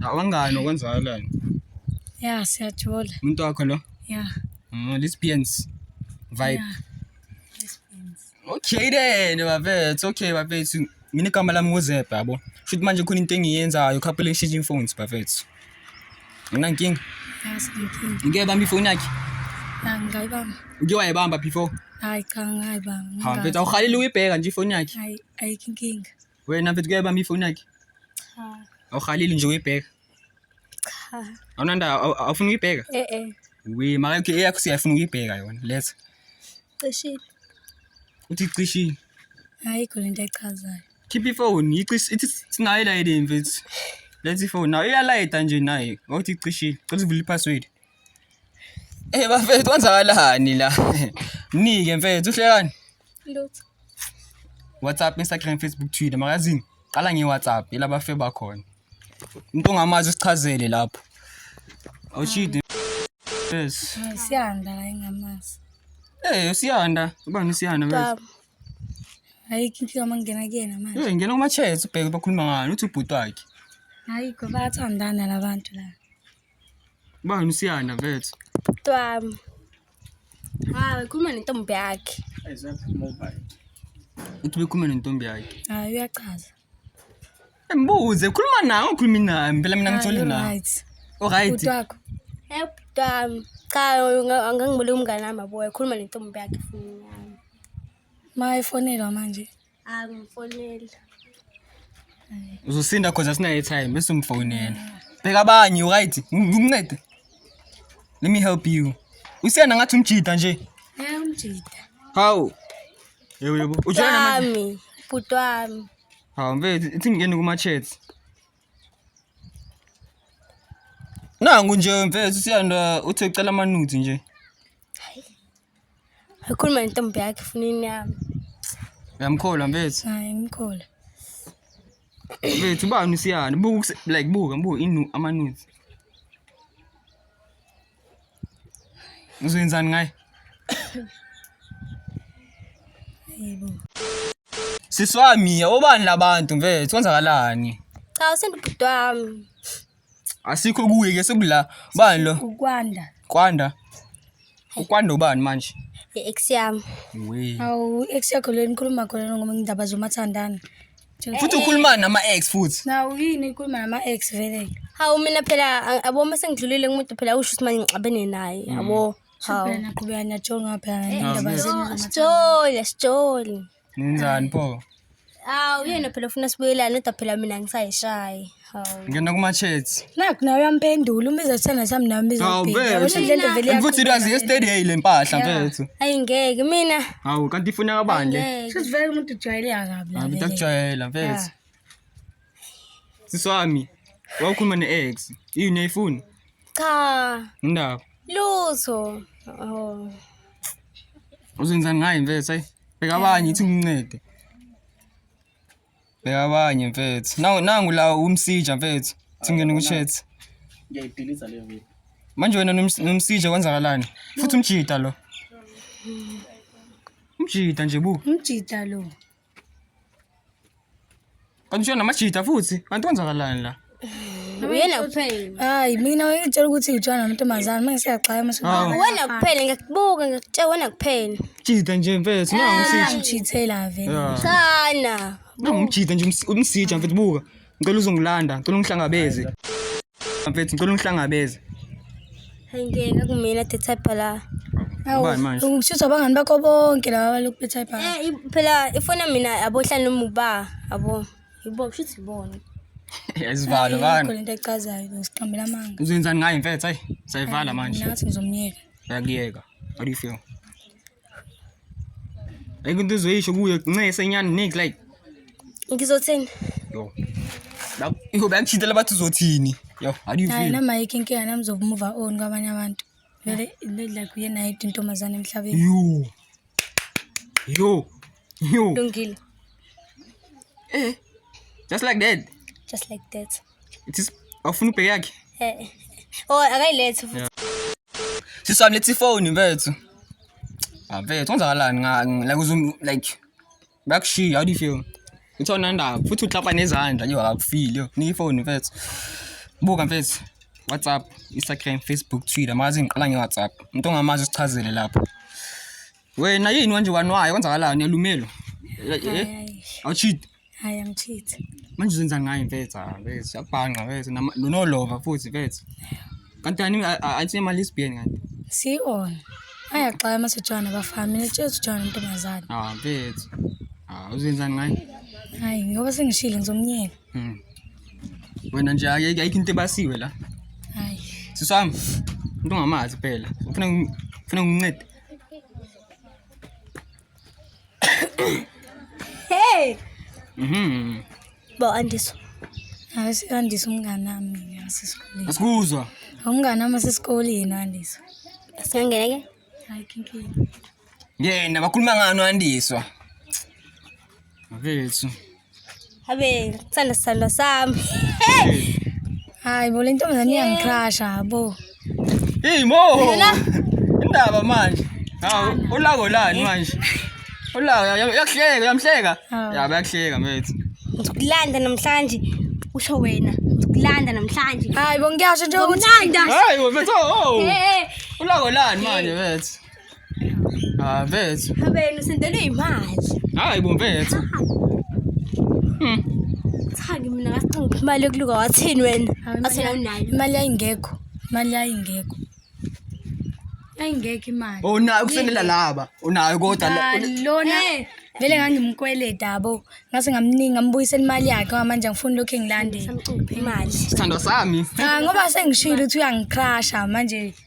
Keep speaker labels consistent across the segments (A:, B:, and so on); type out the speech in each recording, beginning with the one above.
A: Awangani okwenzakalani? Yeah,
B: siyathola. Umuntu wakho lo?
A: Yeah. Mm,
B: lesbians
A: vibe.
B: Yeah. Okay
A: then bafethu, okay bafethu. Mina igama lami nguZebha yabo. Futhi manje khona into engiyenzayo, couple exchanging phones bafethu. Mina nkinga. Yes,
B: nkinga. Ngeke bambi phone yakhe.
A: Yeah, ngayibamba.
B: Uke wayibamba
A: before? Hayi cha
B: ngayibamba. Ha, mfethu awuhalile
A: uyibheka nje ifoni yakhe. Hayi, ayikho inkinga.
B: Wena mfethu kuyayiba
A: mi ifoni yakhe? Cha.
B: Awuhaleli nje
A: uyibheka? Cha.
B: Awunanda
A: awufuna uyibheka? Eh eh. Wi maka yakhe eyakho siyafuna uyibheka yona. Let's. Cishile. Uthi cishile. Hayi khona
B: into echazayo. Keep ifoni,
A: icis ithi sinayo la yini mfethu. Let's ifoni. Nayo iyalayita nje naye. Awuthi cishile. Cela uvule ipassword. Eh bafethu kwenzakalani la? Mnike mfethu uhlekani?
B: Lutho.
A: WhatsApp, Instagram, Facebook, Twitter magazini. Qala ngeWhatsApp ilaba fe bakhona. Umuntu ongamazi usichazele lapho. Awushidi. Yes. Siyanda la
B: ingamazi. Eh usiyanda,
A: ubani usiyanda mfethu? Hayi
B: kinhle uma ngena kuyena manje. Eh ngena kuma chats ubheke
A: bakhuluma ngani uthi ubhuti wakhe. Hayi kodwa
B: bathandana labantu la.
A: Bani usiyanda mfethu? Twami.
B: Hayi, khuluma nentombi yakhe.
A: Uthi bekhuluma nentombi yakhe. Hayi uyachaza. Mbuze, khuluma nawe ukhulumi nami. Phela mina ngithole nawe. Right. Oh right.
B: Utwakho. Eh twami. Cha angangibuleki umngane wami abuye khuluma nentombi yakhe funa. Mayifonelwa manje. angifoneli
A: uzosinda cause asinayo time bese umfonela bheka abanye right ngikuncede let me help you usiyana ngathi umjida nje eh umjida
B: how
A: yebo yebo ujana manje bhuti
B: wami hawu mfethu
A: ithi ngingene kuma-chats nangu nje mfethu usiyanda uthi ucela amanuthi nje
B: Akhuluma nentombi yakhe funa inyama. Uyamkhola
A: mfethu. Hayi ngimkhola. Mfethu ubani usiyana? Buka ukuse- like buka buka inu amanuzi. Uzoyenzani ngaye? Yebo. Siswami, obani labantu mfethu? Kwenzakalani? Cha usendibhuti
B: wami.
A: Asikho kuye ke sekula. Bani lo? ukwanda Kwanda. Ukwanda ubani manje? i-ex yami
B: We. awu
A: ex yakho
B: le nikhuluma khona ngoba ngindaba zomathandana Futhi
A: ukhuluma nama ex futhi. nawu yini ikhuluma
B: nama-ex vele hawu mina phela a- yabo uma sengidlulile kumuntu phela usho ukuthi manje ngixabene naye yabo hawu naqhubeka niyajonga phela indaba zenu sijole sijole Ngenzani
A: pho? Awu yena
B: phela ufuna sibuyelane kodwa phela mina ngisayishayi. Hawu. Ngena kuma chats.
A: Nakho nawe uyampendula
B: uma izothanda sami nawe Awu, izophika. vele. Yabona indlela evele Futhi yakhuluma irazi ngayo. yesterday
A: le mpahla mfethu. Ayi ngeke mina.
B: Hawu kanti ifuna
A: kabani le? Ngeke. Sesivele umuntu ujwayele
B: akabi la. Hayi vele. utakujwayela mfethu.
A: Sisi wami, wawukhuluma ne-ex. Yini ayifuni? Cha,
B: Indaba.
A: lutho.
B: Oh.
A: Uzenzani ngaye mfethu? Hayi, bheka abanye ithi umncede. Bheka abanye mfethu. Nangu nangu la umsija mfethu. Singene ku chat. Ngiyayidiliza
C: le video. Manje wena noms-
A: nomsija kwenzakalani? Futhi umjita lo. Umjita nje bu. Umjita lo. Kanti ushona namajita futhi. Kanti kwenzakalani la? Uyena
B: kuphela. Hayi mina ngitshela ukuthi ngitshana namantombazane mase siyaxaya mase. Hawu. Wena kuphela ngikubuka ngikutshela wena kuphela. Jita nje mfethu.
A: Nangu umsija. Ngithithela vele. Yeah.
B: Sana. Nangu umjita nje
A: umsi- umsija mfethu buka. ngicela uzongilanda ngicela ungihlangabeze mfethu ngicela ungihlangabeze Hayi
B: ngeke kumina the type la. Ubani manje?
A: Ngikushisa abangani bakho
B: bonke laba balokhu bethayipa. Eh i- phela ifona mina abohlala noma uba abo. Yibo kushuthi ibona. Ayizivalo
A: bani. Khona into ecazayo
B: ngisiqambela amanga. Uzenzani ngayo mfethu? Hayi,
A: sayivala manje. Nathi ngizomnyeka.
B: Yakuyeka.
A: How do you feel? Like into uzoyisho kuyo ncese nyani nik like. Ngizothini?
B: Yo.
A: Bak yo bakuchithela bathi uzothini? Yo, how do you feel? Hayi nama yike inkinga nami
B: zokumuva on kwabanye abantu. Vele like uyena yedwa
A: intombazane
B: emhlabeni. Yo.
A: Yo. Yo.
B: Lungile.
A: Eh. Just like that. Just like that. Awufuna ubheke yakhe? Eh. Oh,
B: akayilethi futhi. Sisi
A: wami lethi phone mfethu. Mfethu kwenzakalani nga like uzum like bakushiya how do you feel? Uthona ndaba futhi uklapa nezandla yo akufili yo. Ni phone mfethu. Buka mfethu. WhatsApp, Instagram, Facebook, Twitter, mazi ngiqala nge-WhatsApp. Umuntu ongamazi usichazele lapho. Wena yini wanje wanwayo kwenzakalani yalumelo? Awucheat. Hayi
B: angicheat. Manje uzenza ngayo
A: mfethu, mfethu yabhanqa mfethu nolova futhi mfethu. Kanti ani athi imali isibien kanti. Si on.
B: Ayaxaya masejana bafana mina tshezi jana ntombazana. Ah mfethu.
A: Ah uzenzani ngayo? Hayi ngoba
B: sengishilo ngizomnyeka.
A: Mhm. Wena nje ayike ayikho into ebasiwe la. Hayi.
B: Sisami.
A: Umuntu ongamazi phela. Ufuna ufuna ungincede.
B: Hey. Mhm. Bo andiso. Awusi
D: andiso umngane nami ngasesikoleni. Asikuzwa.
A: Umngane nami
D: sesikoleni andiso. Asingangene ke?
B: Hayi kinkinga.
D: Ngena
A: bakhuluma ngani andiswa. Habe
B: sala sala sam.
D: Hayi bo lento mina niyangicrasha bo. Hey mo.
A: Indaba manje. Hawu ulako lani manje? Ulako yakuhleka uyamhleka. Yabo yakuhleka mfethu. Ngizokulanda
B: namhlanje usho wena. Ngizokulanda namhlanje. Hayi bo ngiyasho nje
D: ukuthi. Ngizokulanda. Hayi mfethu.
A: Ulako lani manje mfethu? Ah, mfethu. Habeni
B: usendelwe imali. Hayi bo mfethu.
A: Hmm.
B: Thaki mina ngasinga ukuthi imali yokuluka wathini wena? Athena unayo. Imali yayingekho.
D: Imali yayingekho. Yayingekho imali. Oh nayo kusenela laba.
A: Unayo kodwa la. Lona eh.
D: vele ngangimkweleda yabo. Ngase ngamningi ngambuyisela imali yakhe ngamanje ngifuna lokho engilandela. Imali.
B: Sithandwa sami.
A: Cha ngoba sengishilo
D: ukuthi uyangicrasha manje.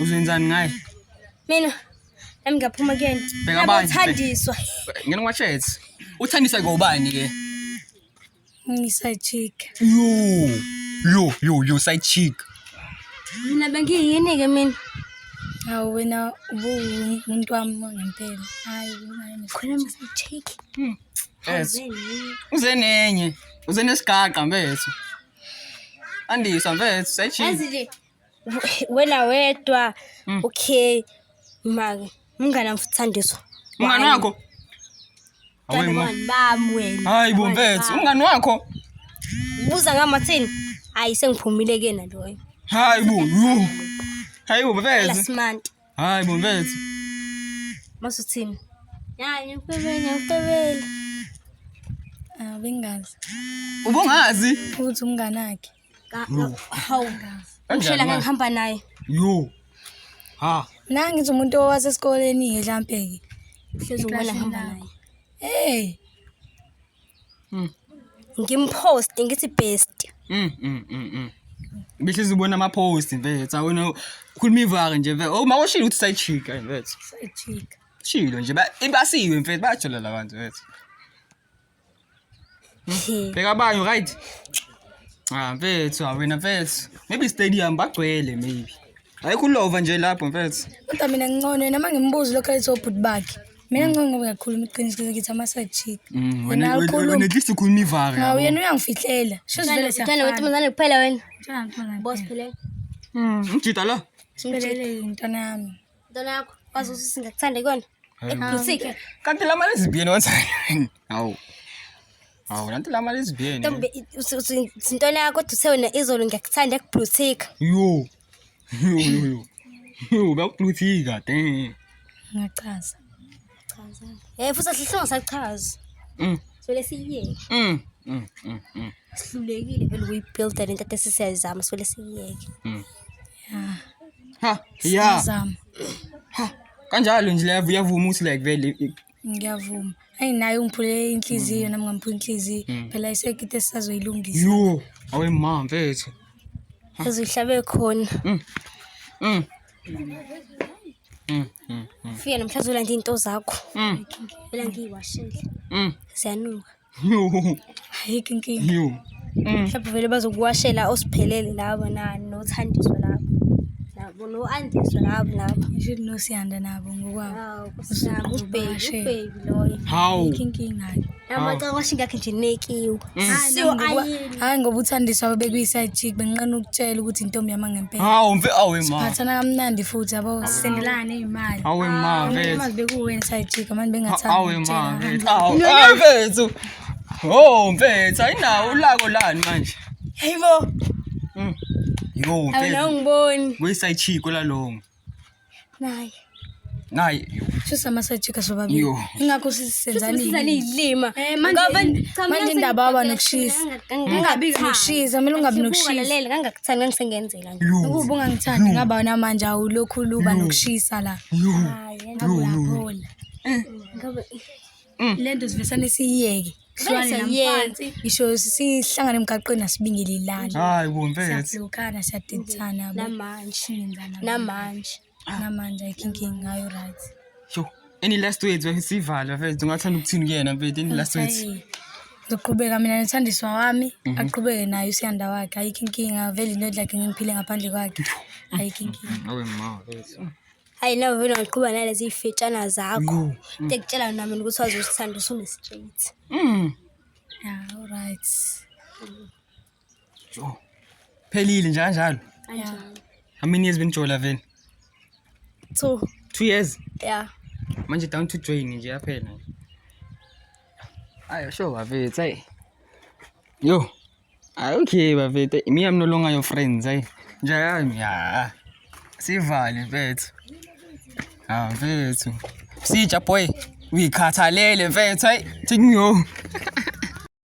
A: Uzenzani ngaye? Mina
B: nami ngiyaphuma kuyena. Bheka abanye.
A: Uthandiswa.
B: Ngena kwashethi.
A: Uthandiswa ngobani ke?
D: Ngisa chick. Yo. Yo, yo,
A: yo side chick. Mina
B: bengiyini ke mina? Awu wena
D: ubuwumuntu wami ngempela. Hayi, ngani. Khona mse
B: chick. Hmm. Yes.
A: Uze nenye. Uze nesigaqa mfethu. Andisa mfethu sechi. Yazi nje
B: wena wedwa Mm. okay maka mngane wami futhi Thandiso. Umngani wakho?
A: Away
B: ma. Mngani bami wena. Hayi bo mfethu, umngani
A: wakho? Buza
B: ngamathini. Hayi sengiphumile kena loyo. Hayi bo.
A: Hayi bo mfethu. Last month. Hayi
B: bo mfethu.
A: Mase
B: uthini? Hayi ngikubebele ngikubebele. Ah
D: bengazi. Ubungazi?
A: Futhi umngane
D: wakhe. Hawu.
B: Ngishela ngihamba naye. Yo.
A: Ha. Nangi ngithi umuntu
D: owasesikoleni ke mhlampe ke. Hlezi ubona ngihamba naye.
B: Hey. Mm. ngimposte ngithi best Mm, mm, mm, mm.
A: Behlezi ubona ama post mfethu. Awona ukhuluma ivaka nje mfethu. Oh mawoshilo ukuthi sayijika mfethu. sayijika
D: Shilo nje ba-
A: ibasiwe mfethu bayajola la bantu mfethu. Bheka abanye right. Ah mfethu awena mfethu. Maybe stadium bagcwele maybe. Hayi kulova nje lapho mfethu. Kodwa mina ngincono
D: noma ngimbuzi lokho ayithi obhuti bakhe. Mina mm. ngincono ngoba ngiyakhuluma iqiniso ngithi ama side chick. Mm, wena
A: wena at least ukhuluma ivaka. Ngawe yena uyangifihlela.
D: Shozi vele siya. Ngicela ukuthi mzane kuphela
B: wena. Boss phela. Mm. Ngijita
A: la. Simphelele intwana
D: yami. Intwana yakho.
B: Wazi ukuthi singakuthanda ikona. Ekusike. Kanti la mali
A: zibiyeni wenzani? Hawu. Hawu lanto la mali izibiyeni. Ntombi
B: isintwana yakho kodwa uthe wena izolo ngiyakuthanda ekubluthika. Yo. Yo yo
A: yo. Yo bakubluthika damn. Ngiyachaza.
D: Chaza.
B: Eh futhi asihlonga sachaza. Mm. So lesiyeke. Mm. Mm. Mm. mm. Sihlulekile vele ukuyibuilda lento ade sisiyayizama so lesiyeke. Mm. Yeah.
A: Ha. Yeah. Sizama.
D: Ha.
A: Kanjalo nje level yavuma ukuthi like vele Ngiyavuma.
D: Ayi naye ungiphulele inhliziyo nami ngamphula inhliziyo. Mm. Phela
A: isekite
D: sisazoyilungisa. Yo, awe
A: ma
D: mfethu. Yazi
B: uhlabe khona. Mm. Mm. Mm. Mm. Mm. Fika namhlanje ulanda into zakho. Mm. Ela ngiyiwashile. Mm. Ziyanuka.
A: ayikho inkinga
D: yo Mm.
A: mhlawumbe vele
B: bazokuwashela osiphelele labo na nothandiswa labo nabo no-andiswa labo nabo Ngisho nosiyanda
D: nabo ngokwabo. Hawu, Nkosi yami, ubheki
B: Uzobashe. ubheki loyo hawu Ayikho inkinga.
D: namacakwashi ngakhe
B: nje nekiwe Mm. siwo ayini
D: Hayi ngoba uthandiswa babekuyiside chick bengiqana ukutshela ukuthi intombi yami ngempela. Hawu mfe awe ma.
A: Phathana kamnandi futhi
D: yabo sendelane imali. Awe ma vethu.
A: Imali bekuwe
D: inside chick
A: manje
D: bengathanda.
A: Awe ma vethu. Awe vethu. Oh mfethu ayinawo ulako lani manje.
B: Hayibo.
A: Mm. Yo mfethu.
B: Awungiboni.
A: Kuyiside
B: chick olalongo.
A: naye
B: naye
A: shusa
D: masajika sobabili ingakho sisenzanilima
B: eh,
D: manje indaba waba nokushisa ungabi nokushisa mele ungabi nokushisalela kangakuthanda
B: ngisengenzela ukuba ungangithandi ngaba
D: wona manje awulokhu luba nokushisa la eh. mm. lento sivesane siyiyeke Silwane Bese namfansi. yena. Ngisho sihlangana emgaqweni asibingelelani. Hayi bo mfethu.
A: Siyablokana, siyadedisana.
D: yabo. Namanje. Singenzana. Namanje. Namanje ayikho inkinga ngayo right. Yo. Any
A: last words we sivala mfethu ungathanda ukuthini kuyena mfethu any last words. Ayi. Ngizoqhubeka
D: mina nothandiswa wami aqhubeke naye usiyanda wakhe ayikho inkinga vele into lakhe ngiphile ngaphandle kwakhe ayikho inkinga Awe ma.
A: hayi nawe vele
B: ungiqhuba nalezi iy'fetshana zakho tekutshela yona mina ukuthi waze usithanda usunestraight Mm. ya
D: right
A: Jo. Phelile njalo njalo. ya
B: How many years
A: benijola vele?
B: two 2 years.
A: ya
B: Manje down to
A: join nje yaphela. Ayo sho bafethu hey. Yo, Hayi okay bafethu, me I'm no longer your friends hayi. Njani ya. Sivale mfethu. Ah mfethu. Sija boy, uyikhathalele mfethu hayi, take me home.